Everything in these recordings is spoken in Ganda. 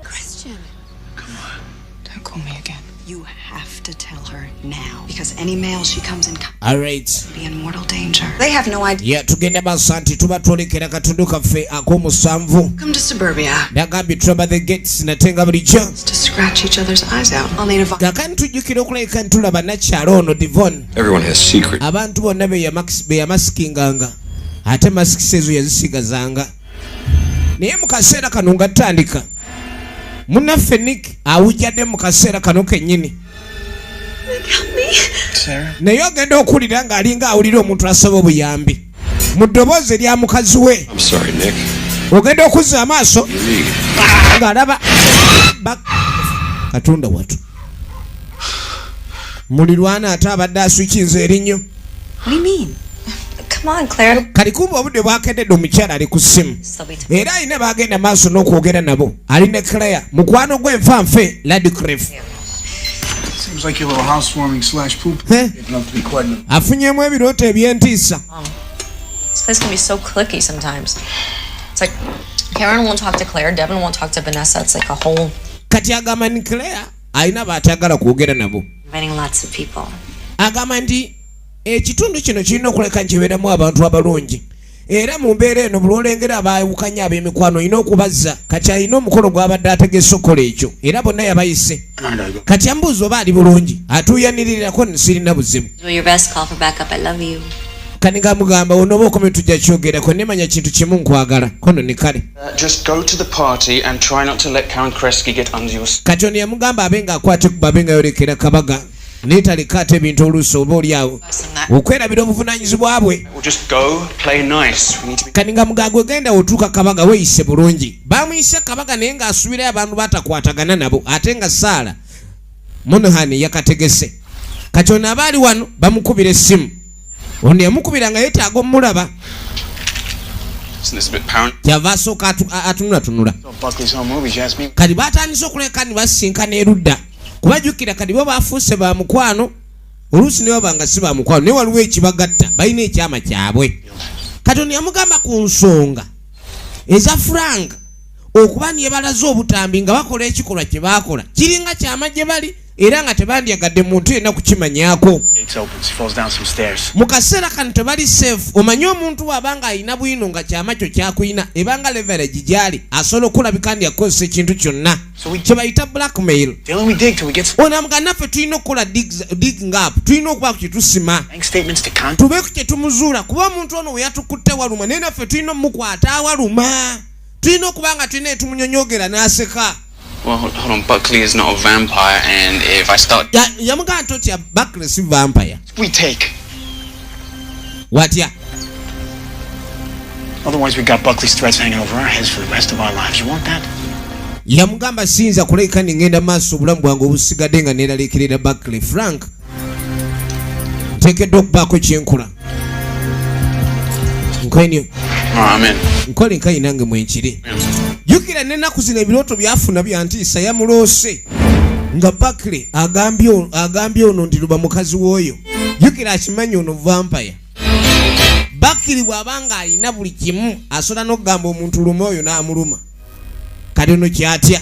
Christian. Come on. Don't call me again. You have to tell her now because any male she comes in All right. be in mortal danger. They have no idea. Yeah, tugenda masanti tuba twolekera katundu kaffe ak'omusanvu. Come to suburbia. Nagambye tulaba the gates natenga bulijjo. To scratch each other's eyes out. I'll need a vibe. Kakani tujjukira okulabika nti tulaba nakyalo ono Devon. Everyone has secret. Abantu bonna beyamasinganga ate masikisi ezo yazisigazanga. naye mu kaseera kano nga tutandika munaffe nik awujjadde mu kaseera kano kennyini naye ogenda okuwulira ng'alinga awulira omuntu asaba obuyambi mu ddoboozi erya mukazi we ogenda okuzza amaaso ng'alaba katonda watu mulirwana ate abadde aswikinze erinnyo kati kumba obudde bwakededde omukyala ali ku simu era alina bagenda maaso n'okwogera nabo ali ne claire mukwano gwe nfa nfe ladcref afunyemu ebirooto ebyentiisa Karen won't talk to Claire, Devin won't talk to Vanessa. It's like a whole kati agamba ni claire alina baatagala kwogera nabo agamba nti ekitundu kino kirina okuleka nkibeeramu abantu abalungi era mu mbeera eno bulwolengera abaawukanya ab'emikwano olina okubazza kati alina omukolo gwabadde ategese okukola ekyo era bonna yabayise kati ambuuza oba ali bulungi atuuyanirirako nsirina buzibu kanigamugamba onooba okomye tujja kyogerako nemanya kintu kimu nkwagala kono ne kale kati ono yamugamba abe nga akwate ku babe nga yolekera kabaga naye taleka ate ebintu oluusi oba oli awo okwerabira obuvunanyizibwa bwe kati nga mugaaga ogenda otuuka kabaga weyise bulungi bamuyise kabaga naye ng'asuubirayo abantu batakwatagana nabo ate nga saala Monohan yakategese kati ono aba ali wano bamukubira essimu ono yamukubira nga yetaaga omulaba kyava asooka atunulatunula kati batandise okuleka nibasisinkana erudda kuba jukira kati bo bafuuse ba mukwano oluusi nebaba nga si ba mukwano naye waliwo ekibagatta balina ekyama kyabwe kati ono yamugamba ku nsonga eza furanga okuba nebalaze obutambi nga bakola ekikolwa kye baakola kiringa kyama gye bali era nga tebandyagadde muntu yenna kukimanyako mu kaseera kano tebali safe omanye omuntu waaba nga alina bwino nga kyama kyo kyakulina ebanga leverage gyali asobola okulabika ndi akukozesa ekintu kyonna kyebayita blackmail onamuga naffe tulina okukola digging up tulina okuba ku kyetusima tube ku kyetumuzuula kuba omuntu ono weyatukutte waluma naye naffe tulina omukwata awaluma tulina okuba nga tulina etumunyonyogera n'aseka yamugamba nti otya bakle si vampire watya Otherwise, we got Buckley's threats hanging over our heads for the rest of our lives. You want that? yamugamba siyinza kuleka nengenda maaso obulamu bwange obusigadde nga neraliikirira buckley frank nteekeddwa okubaako kyenkola nkwenyo nkole nkayi nange mwenkiri jukira nenaku zino ebirooto byafuna byantiisa yamuloose nga bakle agambye ono ndi luba mukazi wooyo jukira akimanyi ono vampaya bakiri bw'aba nga alina buli kimu asobola n'okugamba omuntu luma oyo n'amuluma kati ono kyatya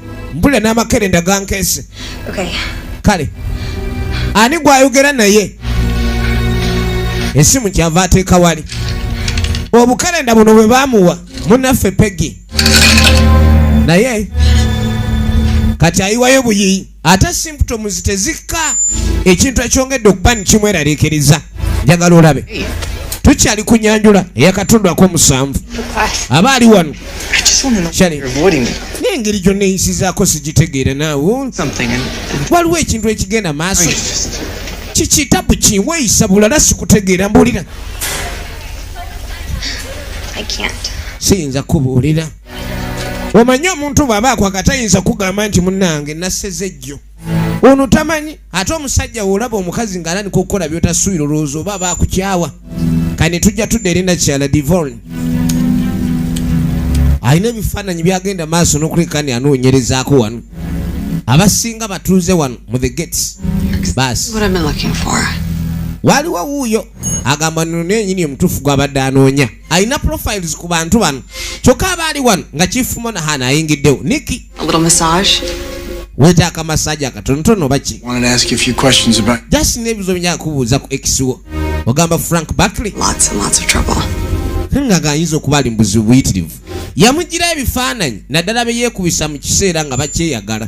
mbula n'amakerenda gankeese kale ani gwayogera naye esimu kyava ateeka wali obukerenda buno bwe bamuwa munaffe pegi naye kati ayiwayo buyiyi ate simptoms tezikka ekintu ekyongedde okuba nikimweraliikiriza njagala olabe tukyali ku nyanjula eyakatondwako omusanvu aba ali wano n'engeri gyonna eyisizaako sigitegeera naawe waliwo ekintu ekigenda maaso kikitabu kiweeyisa bulala sikutegeera mbuulira siyinza kubuulira omanyi omuntu bw'aba akwaka tayinza kugamba nti munnange naseze jjo ono tamanyi ate omusajja wolaba omukazi ng'alanika okukola byotasuubira olowooza oba aba akukyawa kani tujja tudda erinda kyala divorn alina ebifaananyi byagenda maaso n'okulekani anoonyerezaako wano abasinga batuuze wano mu the gates baasi waliwo wuuyo agamba nno nenyini omutuufu gwabadde anoonya alina profiles ku bantu bano kyokka aba ali wano nga kifumo nahana ayingiddewo niki wetaaka masaji akatonotono baki just nebizo bya kubuuza ku ekiwo ogamba frank bakley ngaga ayinza okuba ali mubuzibu buyitirivu yamugira ebifaananyi naddala beyekubisa mu kiseera nga bakyeyagala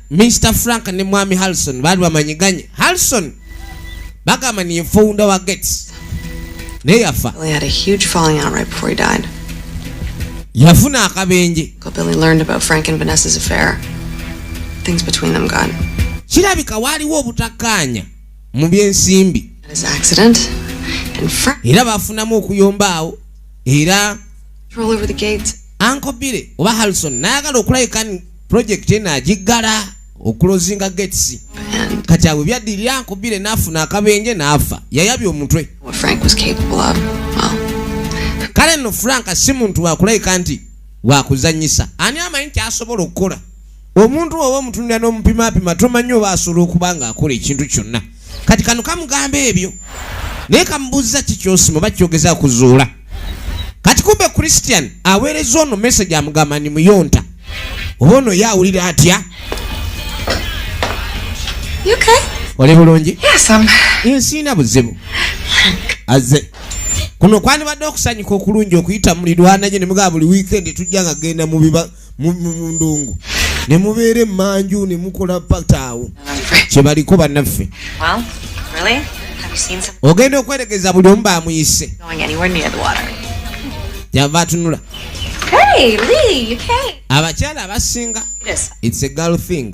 Mr Frank ne mwami Harrison baali bamanyiganye. Harrison bagamba ni founder wa Gates. Naye yafa. He had a huge falling out right before he died. Yafuna akabenje. Billy learned about Frank and Vanessa's affair. Things between them got. Kirabika waliwo obutakkaanya mu by'ensimbi. His accident and Frank. Era bafunamu okuyomba awo era. Roll over the gates. Uncle Billy oba Harrison nayagala okulabika pulojekiti eno agiggala okulozinga gates kati awe byaddirira nkubire n'afuna akabenje n'afa yayabya omutwe kale nno frank si muntu wakulayika nti wakuzanyisa ani amanyi nti asobola okukola omuntu oba omutunira n'omupimapima tomanyi oba asobola okuba ng'akola ekintu kyonna kati kano kamugamba ebyo naye kamubuuza ki kyosima oba kyogeza kuzuula kati kumbe christian aweereza ono message amugamba ni muyonta oba ono ye awulira atya oli bulungi nsiina buzibu aze kuno kwandibadde okusanyuka okulungi okuyita mulirwanagye ne mugaba buli wiikendi tujja nga genda mubiba mundongo nemubeera emanju nemukola pataawo kyebaliko banaffe ogenda okweregeza buli omu bamuyise yava atunula abakyala abasinga its a girl thing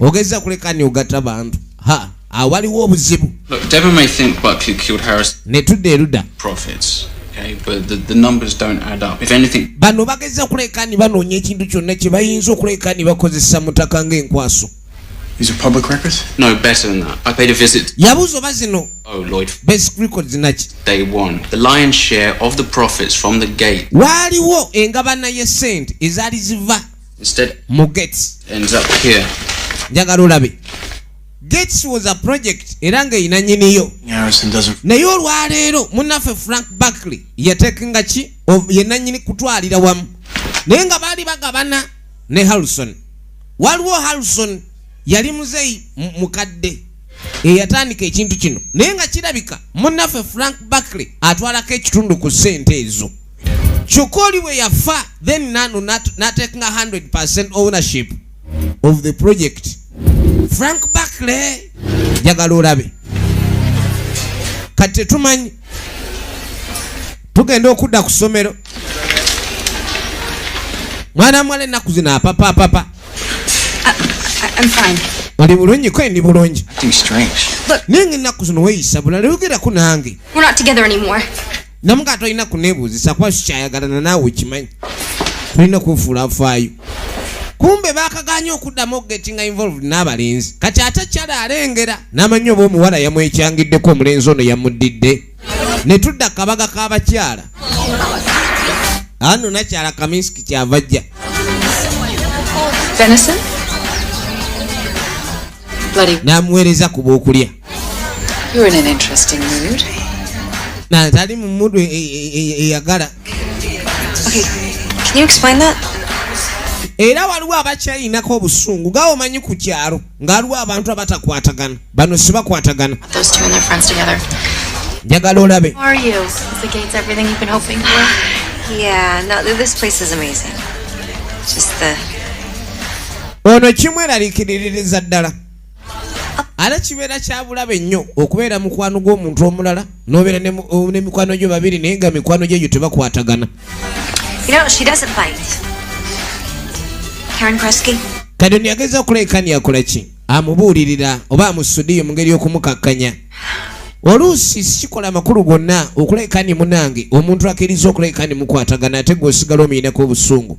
ogeza kuleka ni ogata bantu ha awaliwo ah, obuzibu ne tudda eruda bano bageza kuleka ni banoonya ekintu kyonna kye bayinza okuleka ni bakozesa mutaka ng'enkwaso Is it public records? No, better than that. I paid a visit. Yabuzo bazino. Oh, Lloyd. Basic records zinaki. Day one. The lion's share of the profits from the gate. Waliwo engabana ye sent ezali ziva mu gates njagala olabe gates was a project era nga erina nyiniyo naye olwaleero munaffe frank barkley yatekinga ki yenanyini kutwalira wamu naye nga baali bagabana ne harrison waliwo harrison yali muzeyi mukadde eyatandika ekintu kino naye nga kirabika munaffe frank barkley atwalako ekitundu ku sente ezo kyokka oli bwe yafa then nano natekinga 100 ownership of the project frank backley njagala olabe kati tetumanyi tugenda okudda ku ssomero mwana mwala ennaku zino apapa apapa oli bulungi kwe ndi bulungi naye nga ennaku zino weyisa bulala yogerako nange namu nga tolina kunebuuzisa kuba sikyayagalana naawe okimanyi tolina kufuula afaayo kumbe bakaganye okuddamu okugetinga involved n'abalenzi kati ate kyala alengera n'amanyi oba omuwala yamwekyangiddeko omulenzi ono yamuddidde ne tudda kabaga k'abakyala ano nakyala kaminsiki kyava jja namuweereza ku b'okulya You're in an interesting mood. Nah, that even mood we eyagala. Okay, can you explain that? era waliwo abakyalinako obusungu gawo omanyi ku kyalo nga waliwo abantu abatakwatagana bano sibakwatagana njagala olabe ono kimweralikiririza ddala ate kibeera kyabulabe nnyo okubeera mukwano gw'omuntu omulala n'obeera n'emikwano gyo babiri naye nga mikwano gyegyo tebakwatagana kati ndiyageza okulekani yakola ki amubuulirira oba amusudiyo mu ngeri y'okumukakkanya oluusi sikikola amakulu gonna okulekani munange omuntu akiriza okulekani mukwatagana ate gweosigala omuyinako obusungu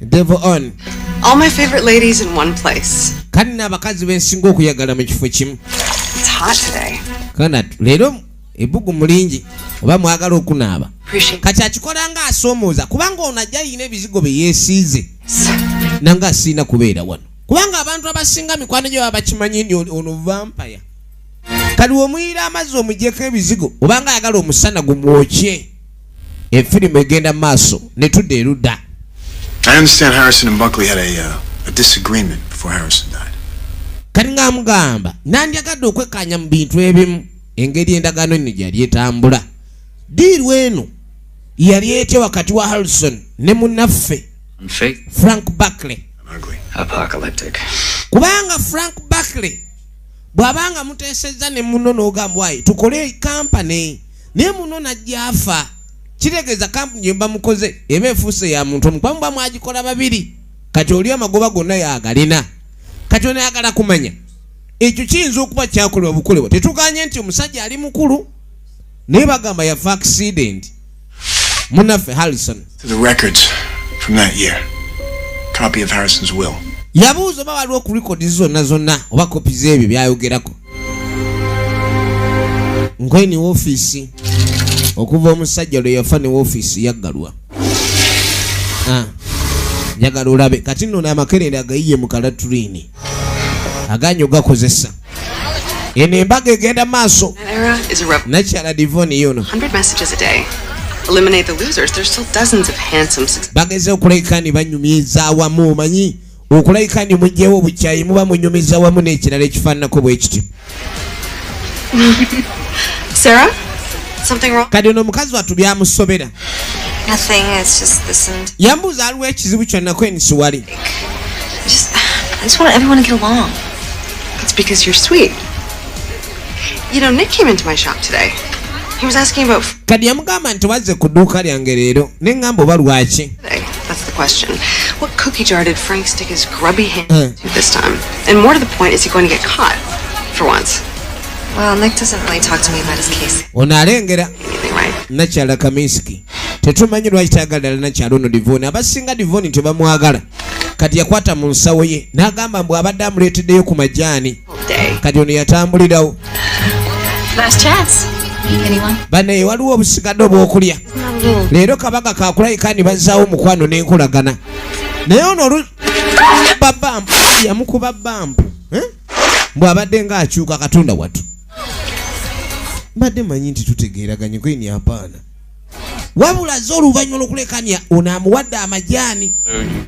Devil on. All my favorite ladies in one place. Kanna abakazi bensinga okuyagala mu kifo kimu. It's hot today. Kana lero ebugu mulingi oba mwagala okunaaba. Kati akikola nga asomooza kubanga ono ajja yina ebizigo bye yeesiize. Nanga asiina kubeera wano. Kubanga abantu abasinga mikwano gyo babakimanyi ni ono vampire. Kali omuyira amazzi omujeko ebizigo obanga ayagala omusana gumwokye. efirimu egenda maaso netudda erudda kati nga mugamba nandyagadde okwekkaanya mu bintu ebimu engeri endagaano eno gyeyali etambula diiru eno yali etya wakati wa harrison ne munaffe frank buckley kubanga frank buckley bw'abanga muteesezza ne muno n'ogambwaye tukole kampani naye muno najja afa kitegeeza kampu gyemba mukoze eba efuuse ya muntu omu kwamuba mwagikola babiri kati oli amagoba gonna yagalina kati onayagala kumanya ekyo kiyinza okuba kyakolebwa bukolebwa tetuganye nti omusajja ali mukulu naye bagamba yafa accident munaffe harrison yabuuza oba waliwo ku rekodi zonna zonna oba kopi z'ebyo byayogerako nkweni wofiisi okuva omusajja lwe yafa ne wofiisi yaggalwa ah, njagala olabe kati nno n'amakerere agayiye mu kalatulini aganyo gakozesa eno embaga egenda maaso nakyala divoni yono bageze okulekani banyumyeza awamu omanyi okulabika nti mugyewo obukyayi muba munyumiza wamu n'ekirala ekifaananako bwe kiti kati ono omukazi watu byamusobera yambuuza aliwo ekizibu kyonna kweni siwali It's because you're sweet. You know, Nick came into my shop today. He was asking about kati yamugamba nti wazze ku dduuka lyange leero ne ŋŋamba oba lwaki That's the question. What cookie jar did Frank stick his grubby hand uh. to this time? And more to the point, is he going to get caught for once? Well, Nick doesn't really talk to me about his case. Ono alengera nakyala Kaminsky. Tetumanyi lwaki tayagalira nakyala ono Divoni. Abasinga Divoni tebamwagala. Kati yakwata mu nsawo ye n'agamba mbu abadde amuleeteddeyo ku majaani. day. kati ono yatambulirawo Last chance. Anyone? bane waliwo obusigadde obwokulya leero kabaga kakulayika ni bazzaawo omukwano n'enkolagana naye ono olu babampu yamukuba bampu eh? mbwe abadde ng'akyuka katonda watu mbadde manyi nti tutegeeraganye kwini apaana wabula ze oluvannyuma lwokulekanya ono amuwadde amajaani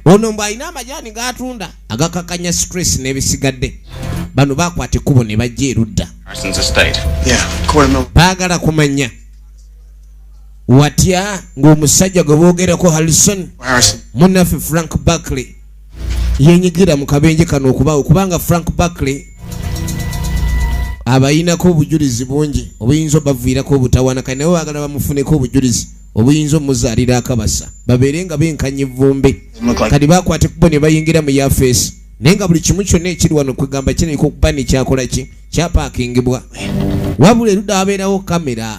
ono mbu alina amajaani gaatunda agakakanya stress n'ebisigadde bano bakwata ekkubo ne bajja erudda baagala kumanya watya ng'omusajja gwe boogerako harrison munaffe frank barkley yenyigira mu kabenje kano okubaawo kubanga frank barkley abayinako obujulizi bungi obuyinza obaviirako obutawana kale naye bagala bamufuneko obujulizi obuyinza omuzaalira akabasa babeere nga benkanya evvumbe kati bakwate kubo ne bayingira mu yafeesi naye nga buli kimu kyonna ekiri wano kwegamba kinaiko okuba nekyakola ki kyapakingibwa wabula erudde abeerawo kamera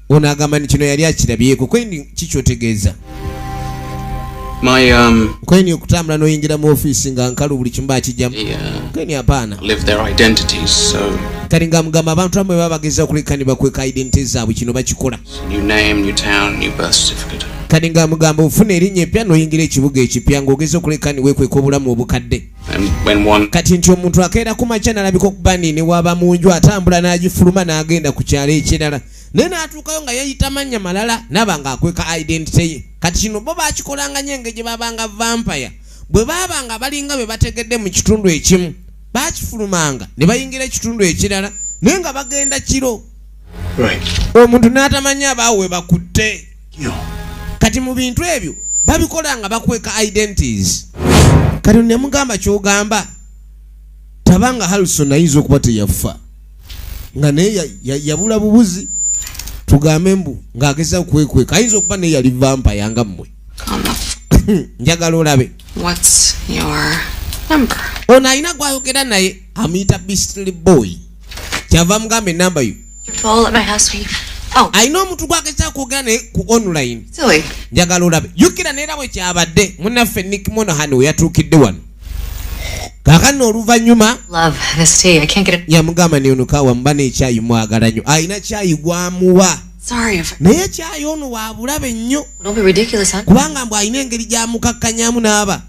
ono agamba nti kino yali akirabyeko kweni kikyotegeeza um, kweni okutambula noyingira mu ofiisi nga nkalu buli kimu bakijjamu uh, kweni apaana kati nga mugamba abantu amwe baba bageza okuleka ne bakweka identity zaabwe kino bakikola kati nga mugamba ofuna erinnya eppya noyingira ekibuga ekipya ng'ogeza okuleka ne wekweka obulamu obukadde kati nti omuntu akeera ku makya nalabika okuba nini waba mu nju atambula n'agifuluma n'agenda ku kyalo ekirala naye n'atuukayo nga yeyita mannya malala naba nga akweka identity ye kati kino bo bakikolanga nyo engeri gye babanga vampire bwe baaba nga balinga bwe bategedde mu kitundu ekimu bakifulumanga ne bayingira ekitundu ekirala naye nga bagenda kiro omuntu n'atamanya abaawo we bakutte kati mu bintu ebyo babikola nga bakweka identities kati nemugamba kyogamba tabanga halson ayinza okuba teyaffa nga naye yabula bubuzi tugambe mbu ng'ageza okwekweka ayinza okuba naye yali vampa yanga mmwe njagala olabe ono alina gwayogera naye amuyita bistly boy kyava mugamba enamba yo oh. alina omuntu gwageza kwogera naye ku online njagala olabe jukira neera bwe kyabadde munaffe nick monohan we yatuukidde wano kakano oluvannyuma yamugamba neyonokawa muba nekyayi mwagala nnyo alina kyayi gwamuwa naye kyayi ono wabulabe nnyo kubanga mbu alina engeri gyamukakkanyamu n'aba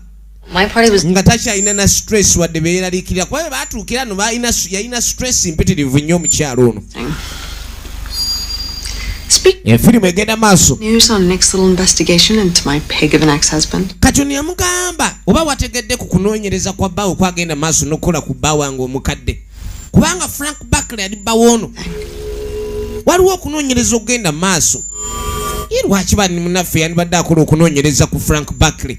nga takyalina na stress wadde beyeraliikirira kuba be baatuukira no yalina stress mpitirivu nnyo omukyalo ono efirimu egenda maaso kati ono yamugamba oba wategedde ku kunoonyereza kwa bbawe okwagenda maaso n'okukola ku bba wange omukadde kubanga frank bakle ali bbawo ono waliwo okunoonyereza okugenda maaso ye lwaki bani munaffe yandibadde akola okunoonyereza ku frank bakle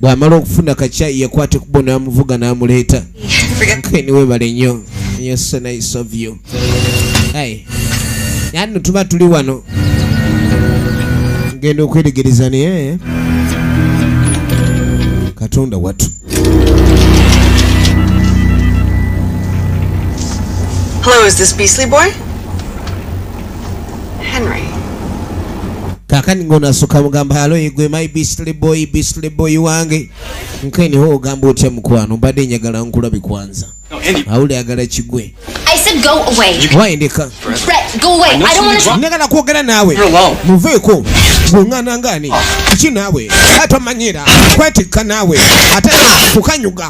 bw'amala okufuna kacyayi yakwata ekubo n'amuvuga n'amuleeta nkeni webale nnyo nyo so nice of you ai yanno tuba tuli wano ngenda okweregereza naye katonda watu Hello, is this Beastly Boy? Henry. kakani ngono asuka mugamba halo igwe my beastly boy beastly boy wange nkeni ho ogamba otya mukwano mbadde njagala nkulabi kwanza awuli agala kigwe wayendeka njagala kwogera naawe muveeko gweŋŋana ngani kiki naawe atomanyira kwetikka naawe ate kukanyuga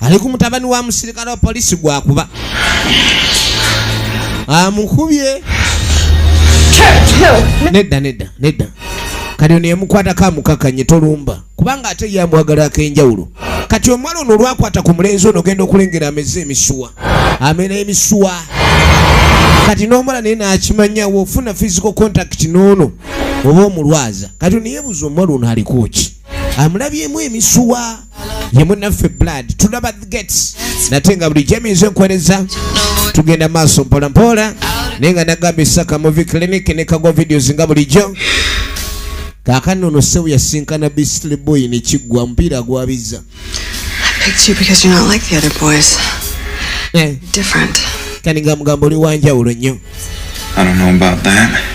ali ku mutabani wa musirikale wa poliisi gwakuba amukubye nedda nedda nedda kati ono yemukwatako amukakanye tolumba kubanga ate ye amwagala akenjawulo kati omwana ono olwakwata ku mulenzi ono ogenda okulengera ameze emisuwa amera emisuwa kati n'omwana naye nakimanyawo ofuna physical contact n'ono oba omulwaza kati ono yebuuza omwana ono alikuki amulabyemu emisuwa ye munaffe blood tulaba gates nate nga bulijjo emiyinza enkuwereza tugenda maaso mpolampola naye nga nagamba esaka muvi clinic ne kagwa videos nga bulijjo kakano ono sewu yasinkana bistly boy nekiggwa mupiira gwabiza eh. kani nga mugamba oli wanjawulo nnyo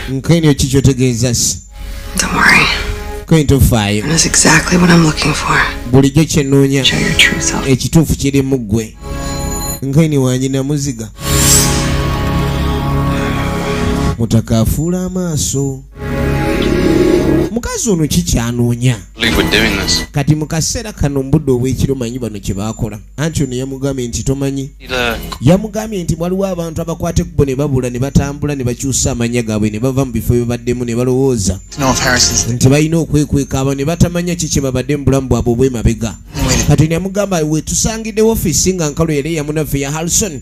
nkenyo kikyotegeeza si Don't worry. Going to fire. That's exactly what I'm looking for. Bulijjo kye nnoonya. Show your true self. Ekituufu kiri mu ggwe. Nkaini wange namuziga. Mutaka afuula amaaso. Mukazi ono kikyanoonya. Kati mu kaseera kano mbudde obw'ekiro manyi bano kye baakola. anti ono yamugambye nti tomanyi yamugambye nti waliwo abantu abakwata ekkubo ne babula ne batambula ne bakyusa amanya gaabwe ne bava mu bifo bye baddemu ne balowooza nti balina okwekweka abo ne batamanya ki kye babadde mu bulamu bwabwe obwemabega kati ne yamugamba wetusangidde wofisi nga nkalo yali eyamunaffe ya halson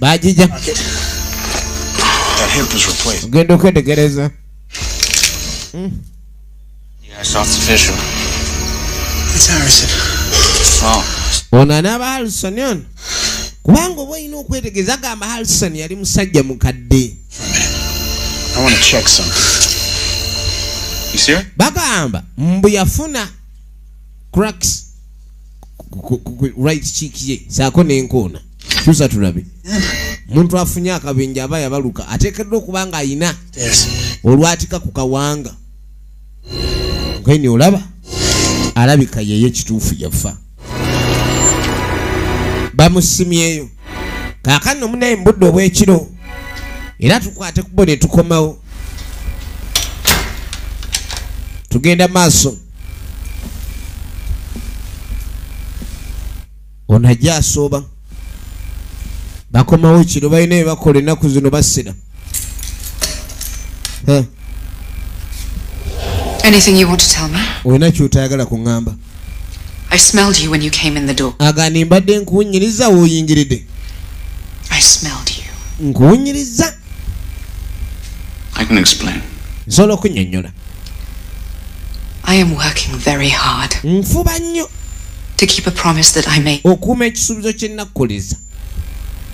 bagija ogenda okwetegereza hmm. oh. ono anaaba harison ono kubanga oba olina okwetegereza agamba harison yali musajja mukadde bagamba mbu yafuna cracks right cheek ye saako nenkoona kyusa tulabe omuntu afunye akabenje aba yabaluka ateekeddwa okuba nga ayina olwatika ku kawanga geni olaba alabika yeyo kituufu yafa bamusimyeyo kakano omunaye mubudde obwekiro era tukwate kubo netukomawo tugenda maaso ono ajja asooba bakomawo kino balina ebakola ennaku zino basira olina kyotayagala kuŋŋamba agani mbadde nkuwunyiriza woyingiridde nkuwunyiriza I can explain. Nsobola okunyonyola. I am working very hard. Nfuba nnyo. To keep a promise that I made. Okuuma ekisuubizo kye nakkuliza.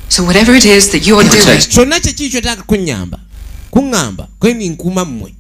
So whatever it is that you are doing. Kyonna kye kiri ky'otaaka kunnyamba, kuŋŋamba, kwe ninkuuma mmwe.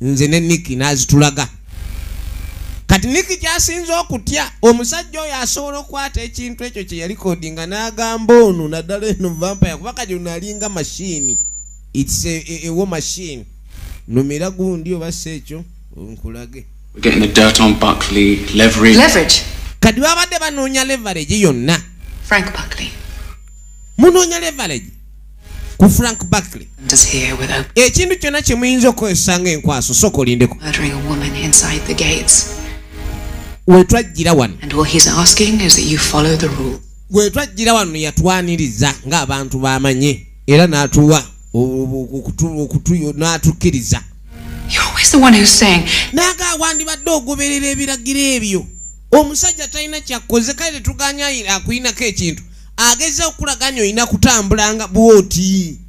nze ne niki n'azitulaga kati niki kyasinza okutya omusajja oyo asobola okukwata ekintu ekyo kye yalikodi nga n'agamba ono naddala eno vampaya kuba kati ono alinga mashini its ewo mashini numira gundi oba si ekyo nkulage kati babadde banoonya leverage yonna munoonya leverage ku frank barkley ekintu kyonna kye muyinza okukozesa nga enkwaso sooka olindeko wetwajjira wano wetwajjira wano yatwaniriza ng'abantu bamanye era n'atuwa n'atukkiriza naga wandibadde ogoberera ebiragiro ebyo omusajja talina kyakkoze kale tetuganya akulinako ekintu ageza okukulaga nyo olina kutambulanga bwoti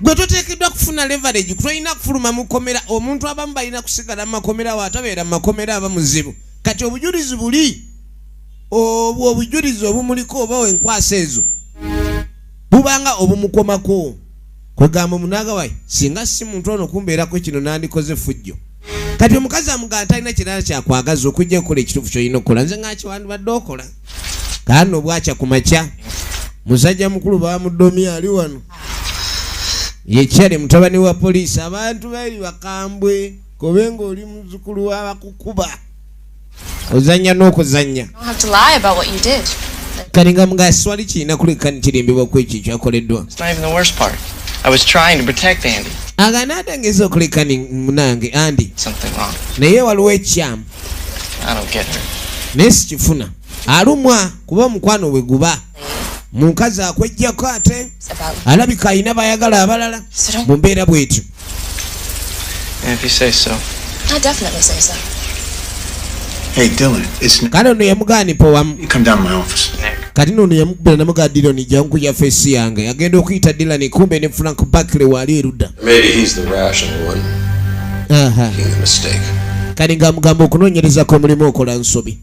gwe toteekeddwa kufuna leverage kutolina kufuluma mukomera omuntu abamu balina kusigala mumakomera watabeera mumakomera aba muzibu kati obujulizi buli obwo obujulizi obumuliko oba wenkwasa ezo bubanga obumukomako kwegamba omunagawayi singa si muntu ono kumbeerako kino nandikoze fujjo kati omukazi amugamba talina kirala kyakwagaza okujja okukola ekituufu kyolina okukola nze ngakiwandibadde okola kaani obwakya ku makya musajja mukulu bamudomi ali wano yekyale mutabani wa poliisi abantu bali bakambwe kobe ngaoli muzukulu wabakukuba ozanya n'okuzanya kati nga mugaswali kirina kuleka nitirimbibwa ku ekyo ekyakoleddwa agana atangeza okuleka munange andi naye waliwo ekyamu naye sikifuna alumwa kuba omukwano bwe guba mukazi akwejjako ate alabika alina bayagala abalala mu mbeera bwetyo kale ono yamugaani powamu kati nono yamukubira namuga diloni jankuja fesi yange agenda okuyita dilani kumbe ne frank bakle waali erudda kale nga amugamba okunoonyerezako omulimu okola nsobi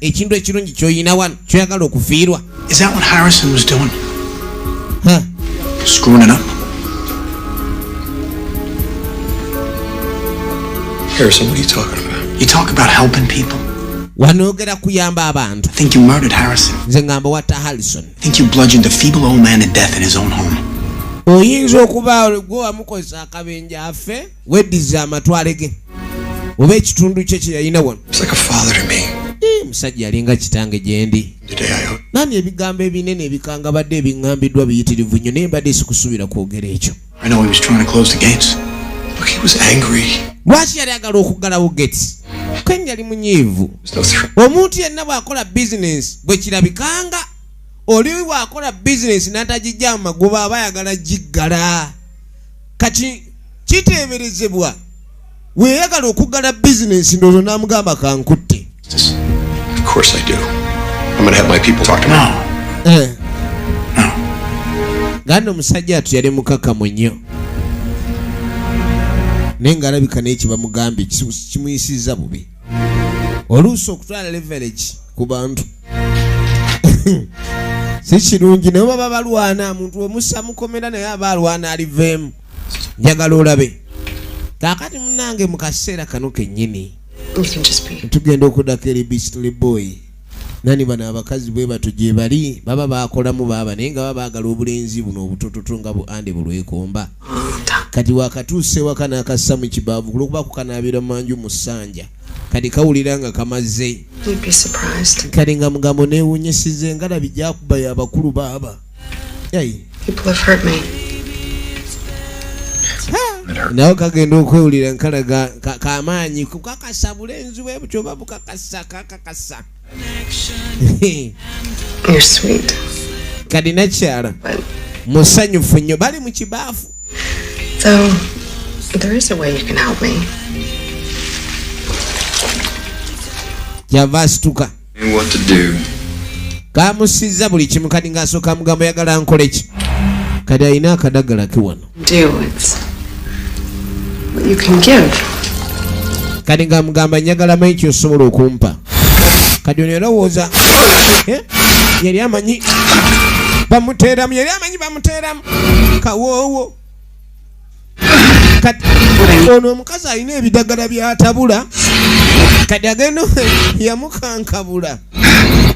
ekintu ekirungi kyoyina wano kyoyagala okufiirwa wanoogera kuyamba abantu nze ngamba watta harrison oyinza okuba gwe wamukozesa akabenja afe weddiza amatwale ge oba ekitundu kye kye yalina wano eh, musajja yalinga kitange gyendi nani ebigambo ebinene ebikangabadde ebiŋŋambiddwa biyitirivu nnyo naye mbadde sikusuubira kwogera ekyo lwaki yali agala okuggalawo gates ken yali munyiivu omuntu yenna bw'akola bizinensi bwe kirabikanga oli bw'akola bizinensi n'atagijja mu magoba aba ayagala giggala kati kiteeberezebwa weyagala okuggala bizinensi ndoozo n'amugamba kankutte eh. nga no omusajja atu yali mukakamu nnyo naye ng'alabika naye kibamugambye kimuyisizza bubi oluusi okutwala leverage ku bantu si kirungi naye baba balwana omuntu omusa mukomera naye aba alwana aliveemu njagala olabe kakati munange mu kaseera kano kennyini tugenda okudako eri bistly boyi nani bano abakazi bwe bato gye bali baba bakolamu baaba naye nga baba bagala obulenzi buno obutototo nga bu ande bulwekomba kati wakatuusa ewaka n'akassa mu kibaavu kulwokuba kukanaabira manju mu ssanja kati kawulira nga kamaze kati nga mugambo neewunyisiza engalabi gyakubayo abakulu baaba nawe kagenda okwewulira nkalaga kamaanyi kukakasa bulenzi bwe butyo oba bukakasa kakakasa kadi nakyala musanyufu nnyo bali mu kibaafu kyava asituka kamusizza buli kimu kati ng'asooka mugamba oyagala nkole ki kati alina akadagala ke wano kati nga mugamba njagala manyi kyosobola okumpa kati ono erowooza eh? yali amanyi bamuteeramu yali amanyi bamuteeramu kawoowo kati ono omukazi alina ebidagala byatabula kati agenda yamukankabula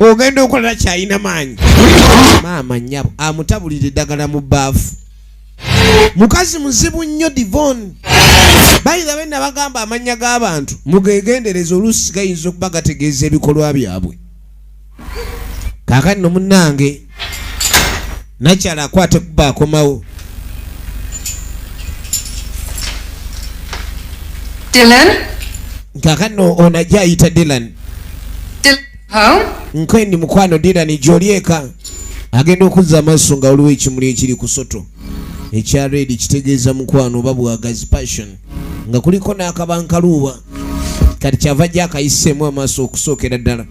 ogenda okolera kyalina maanyi maama nyabo amutabulira eddagala mu baafu mukazi muzibu nnyo divon bayinza bena bagamba amannya g'abantu mugegendereza oluusi gayinza okuba gategeeza ebikolwa byabwe kakati no munange nakyala akwate kuba akomawo kakano ono ajja ayita dilan nkwendi mukwano dilan gyoli eka agenda okuzza amaaso nga waliwo ekimuli ekiri kusoto ekya redi kitegeeza mukwano oba bwagazi passion nga kuliko n'akabankaluuba kati kyava jja akayiseemu amaaso okusookera ddala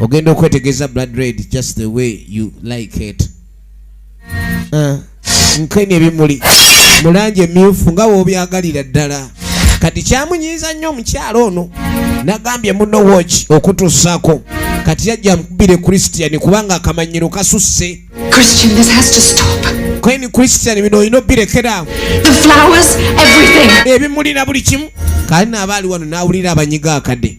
ogenda okwetegeeza blood red just the way you like it ah, nkeni ebimuli mu langi emyufu nga wobyagalira ddala kati kyamunyiiza nnyo omukyalo ono nagambye muno woki okutuusaako kati yajja mukubire christian kubanga akamanyiro kasusse Christian, this has to stop. Queen Christian, bino olina obirekeraawo. The flowers, everything. Ebimuli na buli kimu. Kale naaba ali wano n'awulira abanyiga akade.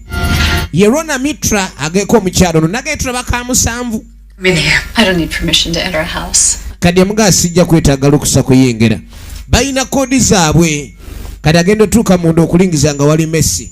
Ye Rona Mitra ageeko omukyalo ono nageetula bakamusanvu. I don't need permission to enter a house. Kadi amugaa sijja kwetaaga lukusa kuyingira. Balina koodi zaabwe. Kadi agenda otuuka munda okulingiza nga wali Messi.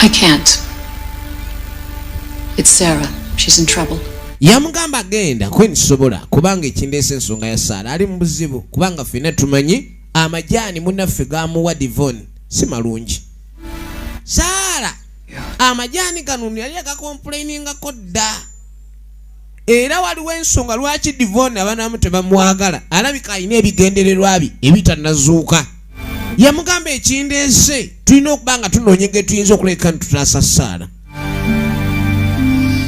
I can't. It's Sarah. She's in trouble. yamugamba genda kweni sobola kubanga ekindeesa ensonga ya saala ali mu buzibu kubanga fena tumanyi amajaani munaffe gamuwa divon si malungi saala amajaani gano yali agakomplainingako dda era waliwo ensonga lwaki divon abanamu tebamwagala alabika alina ebigendererwa bye ebitanazuuka yamugamba ekindeese tulina okuba nga tunoonye ge tuyinza okuleka nti tutaasa saala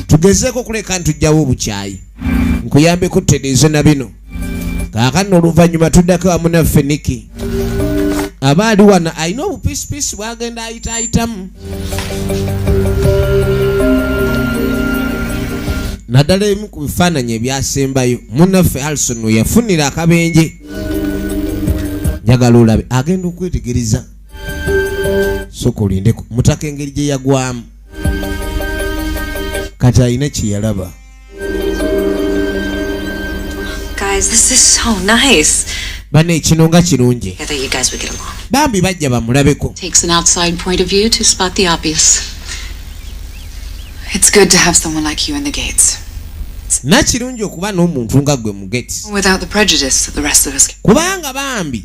tugezeeko okuleka nti tujjawo obukyayi nkuyambeko tutereeze na bino kaakano oluvannyuma tuddako wamu naffe niki aba ali wano alina obupisipisi bwagenda ayitaayitamu naddala ebimu ku bifaananyi ebyasembayo munaffe alison weyafunira akabenje njagala olabe agenda okwetegereza soka olindeko mutaka engeri gye yagwamu kati alina kyeyalaba bana ekino nga kirungi bambi bajja bamulabeko nakirungi okuba n'omuntu nga gwe kubanga bambi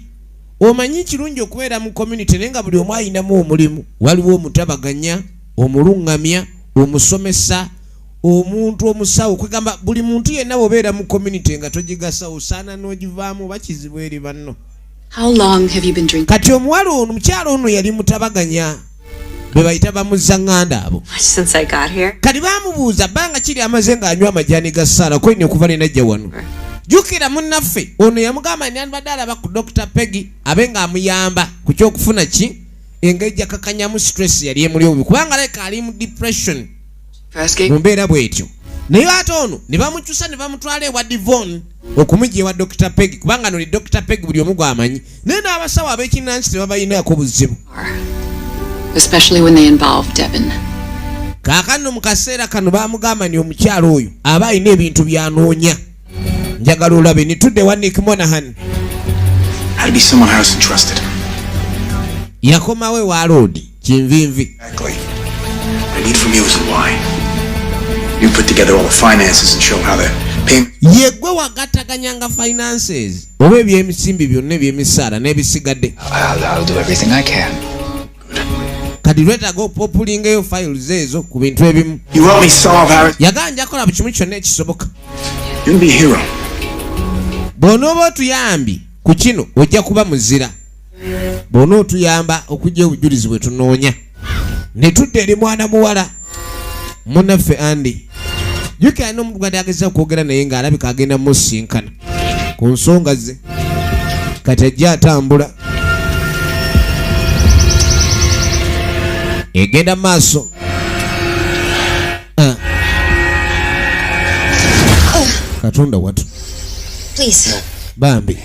omanyi kirungi okubeera mu community naye nga buli omu ayinamu omulimu waliwo omutabaganya omuluŋŋamya omusomesa omuntu omusawo kwegamba buli muntu yenna wobeera mu community nga togigasa osaana n'ogivaamu oba kizibu eri banno kati omuwala ono omukyalo ono yali mutabaganya bebayita bamuzzaŋŋanda abo kati bamubuuza bbanga kiri amaze ng'anywa amajani ga saala kwene okuva lenajja wano jukira munnaffe ono yamugamba nandibadde alaba ku dr peggy abe ng'amuyamba ku kyokufuna ki engeri jakakanyamu stress yali emuli obubi kubanga leka ali mu depression mu mbeera bwetyo naye ate ono ne bamukyusa ne bamutwala ewa divon okumujja ewa dr peg kubanga noli dr peg buli omu gwamanyi naye n'abasawo ab'ekinnansi tebabalinaako buzibu kaakano mu kaseera kano bamugamba ni omukyalo oyo aba alina ebintu byanoonya njagala olabe nitudde wa nik monahan yakomawo ewa loodi kinvinvi yegwe wagataganyanga finances oba ebyemusimbi byonna ebyemisaala n'ebisigadde kati lwetaga opopulingeyo files ezo ku bintu ebimu yagala njakola bu kimu kyonna ekisoboka bw'onooba otuyambi ku kino ojja kuba muzira bw'onootuyamba okujja obujulizi bwe tunoonya ne tudda eri mwana muwala munaffe andi jukira alina omuntu gadi ageza okwogera naye ng'alabika agenda musinkana ku nsonga ze kati ajja atambula egenda maaso ah. katonda watu bambi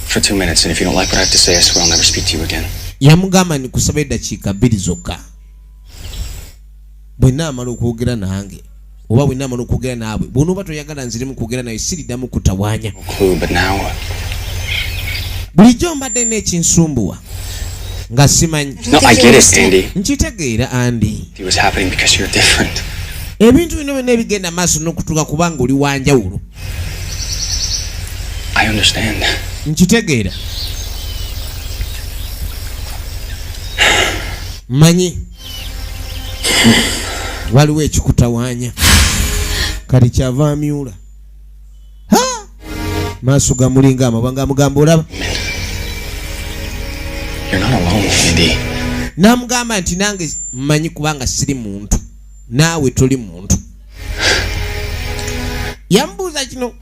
for two minutes, and if you don't like what I have to say, I swear I'll never speak to you again. yamugamba ni kusaba eddakiika bbiri zokka bwenna amala okwogera nange oba bwenna amala okwogera naabwe bwonooba toyagala nziremu kwogera naye siriddamu kutawaanya bulijjo mbadde nekinsumbuwa nga simanyi nkitegeera andi ebintu bino byonna ebigenda maaso nokutuuka kubanga oli wanjawulo nkitegeera manyi waliwo ekikutawaanya kati kyava amyula maaso gamulinga amabanga amugamba olaba n'amugamba nti nange mmanyi kubanga siri muntu naawe toli muntu yamubuuza kino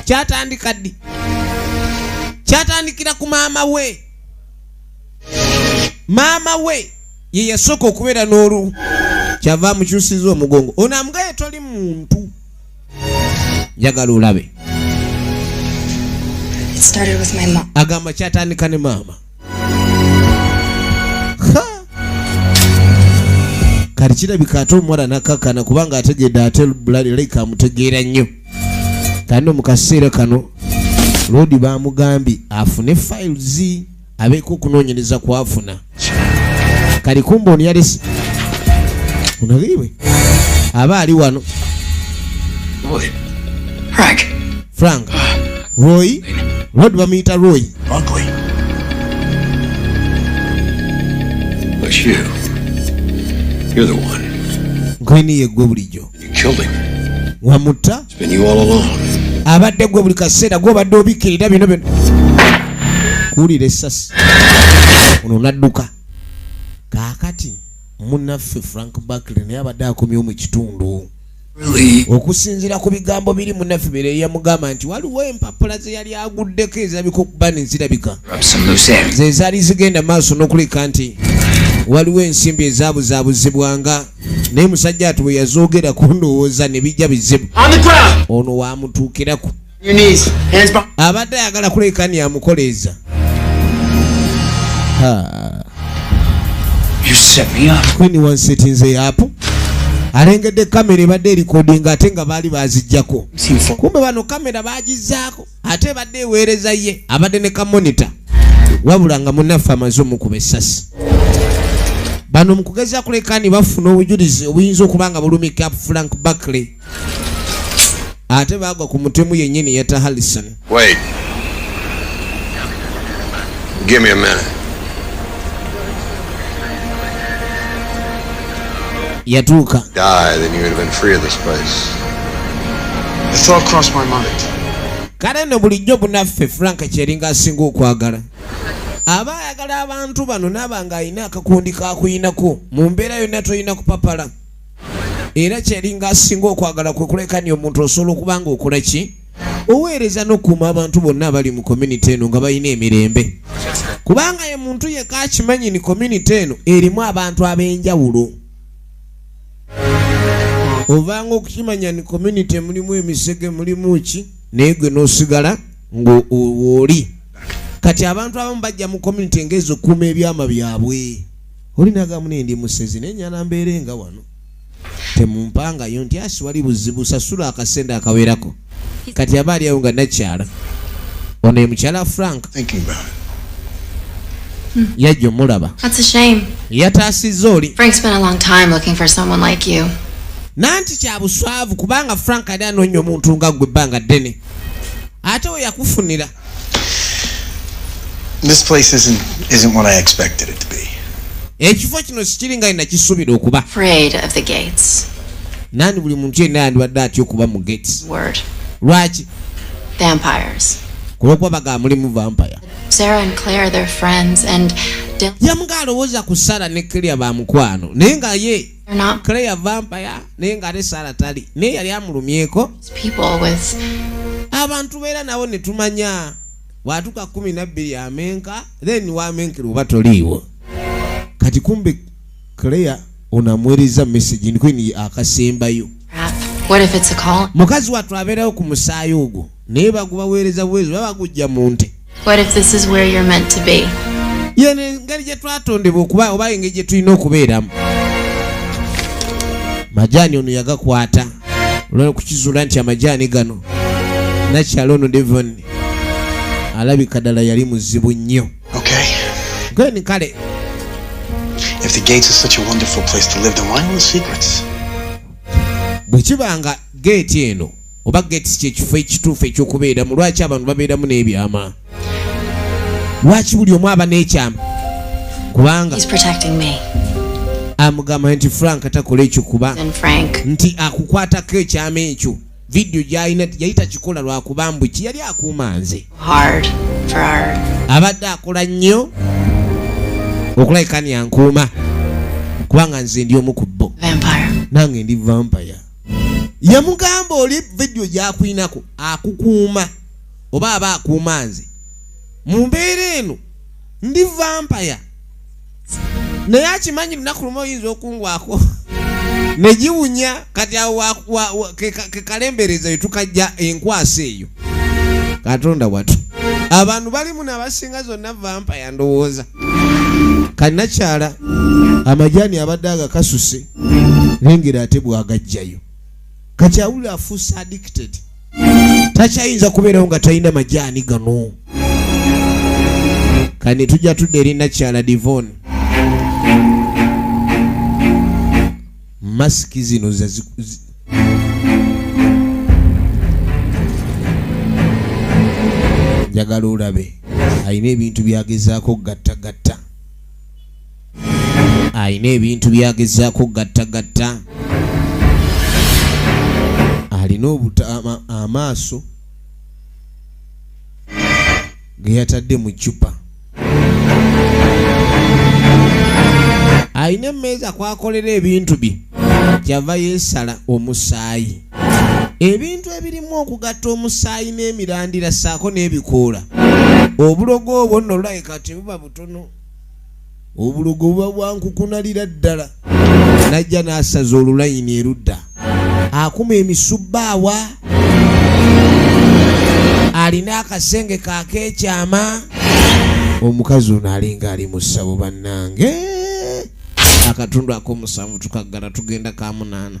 kyatandika ddi kyatandikira ku maama we maama we ye yasooka okubeera n'olu kyava amukyusiza omugongo ono amugaye toli muntu njagala olabe agamba kyatandika ne maama kati kirabika ate omuwala nakakana kubanga ategedde ate bulalaika amutegeera nnyo kano mu kaseera kano loodi bamugambye afune files abeeko okunoonyereza kwafuna kali kumba ono yalese onageiwe aba ali wano Boy. Frank. frank roy rod bamuyita roy Monthly. But you, you're the one. gwini ye gwe bulijjo You killed him. wamutta It's been you all along. abadde gwe buli kaseera gwobadde obikkirira bino bino kuwulira essasi ono nadduka kaakati munaffe frank bakley naye abadde akomyewo mu kitundu okusinzira ku bigambo biri munaffe bere yamugamba nti waliwo empapula ze yali aguddeko ezabika okuba nezirabika ze zaali zigenda maaso n'okuleka nti waliwo ensimbi ezabuzaabuzibwanga naye musajja ati bwe yazoogerako ndowooza ne bijja bizibu ono waamutuukirako abadde ayagala kulekani amukoleeza kwini wansetinze apo alengedde kamera ebadde erikodinga ate nga baali bazijjako kumbe bano kamera bagizaako ate ebadde eweereza ye abadde ne kamonita wabula nga munaffe amaze omukuba essasi bano mu kugeza kulekani bafuna obujulizi obuyinza okuba nga bulumika frank barkley ate bagwa ku mutemu yennyini yeta hallison Wait. Give me a minute. yatuuka Die, then you would have been free of this place. The thought crossed my mind. kale no bulijjo bunaffe frank kyeringa asinga okwagala aba ayagala abantu bano naaba ng'alina akakundi kakuyinako mu mbeera yonna tolina kupapala era kyelinga asinga okwagala kwe kulekani omuntu osobola okuba nga okola ki oweereza n'okuuma abantu bonna abali mu community eno nga balina emirembe kubanga ye muntu yeka akimanyi ni community eno erimu abantu ab'enjawulo ovanga okukimanya ni community mulimu emisege mulimu ki naye gwe n'osigala ng'owooli kati abantu abamu bajja mu community ng'ezo okukuuma ebyama byabwe oli nagamu naye ndi musezi naye nyala mbeere nga wano temumpangayo nti asi wali buzibu sasula akasente akawerako kati aba aliawo nga nakyala ono ye mukyala frank hmm. yajja omulaba yataasiza oli nanti kyabuswavu kubanga frank ali anoonya omuntu nga gwe ebbanga ddene ate weyakufunira This place isn't isn't what I expected it to be. Ekifo kino sikiri nga ina kisubira okuba. Afraid of the gates. Nani buli muntu yenna yandibadde atya okuba mu gates. Word. Lwaki? Vampires. Kulokwa baga mulimu vampire. Sarah and Claire their friends and Yamuga alowooza ku Sarah ne Claire ba mukwano naye nga ye claire vampire naye nga ate sara tali naye yali amulumyeko abantu beera nabo netumanya watuka kumi nabbiri amenka then wamenkera oba toliiwo kati kumbe claire onamwereza message ndikwini akasembayo mukazi watu abeerawo ku musaayi ogwo naye bagubaweereza buweereza oba bagujja mu nte yeno engeri gye twatondebwa okuba oba engeri gye tulina okubeeramu majaani ono yagakwata olwokukizuula nti amajaani gano nakyalo ono devon alabika ddala yali muzibu nnyo gani kale bwe kiba nga geeti eno oba gates kyekifo ekituufu ekyokubeeramu lwaki abantu babeeramu n'ebyama lwaki buli omu aba n'ekyama kubanga amugamba nti frank takola ekyo kuba nti akukwatako ekyama ekyo vidiyo gyalina yali takikola lwakuba mbu ki yali akuuma nze abadde akola nnyo okulabika ni ankuuma kubanga nze ndi omu ku bo nange ndi vampire yamugamba oli vidiyo gyakuinako akukuuma oba aba akuuma nze mu mbeera eno ndi vampaya naye akimanyi lunaku lumu oyinza okungwako negiwunya kati awo kekalembereza etukajja enkwasa eyo katonda watu abantu balimu nabasinga zonna vampaya ndowooza kanakyala amajani abadde agakasuse lengera ate bwagajjayo kati awulira afuuse addicted takyayinza kubeerawo nga talina majaani gano kani tujja tudda eri nakyala divon masiki zino njagala olabe alina ebintu byagezaako gattagatta alina ebintu byagezaako okugattagatta alina amaaso geyatadde mu cupa alina emmeeza kwakolera ebintu bye kyava yeesala omusaayi ebintu ebirimu okugatta omusaayi n'emirandira ssaako n'ebikoola obulogo obwo nno lulabika tebuba butono obulogo buba bwankukunalira ddala najja n'asaza olulayini erudda akuma emisubbaawa alina akasenge kakeekyama omukazi ono alinga ali mu ssabo bannange akatundu ak'omusanvu tukaggala tugenda ka munaana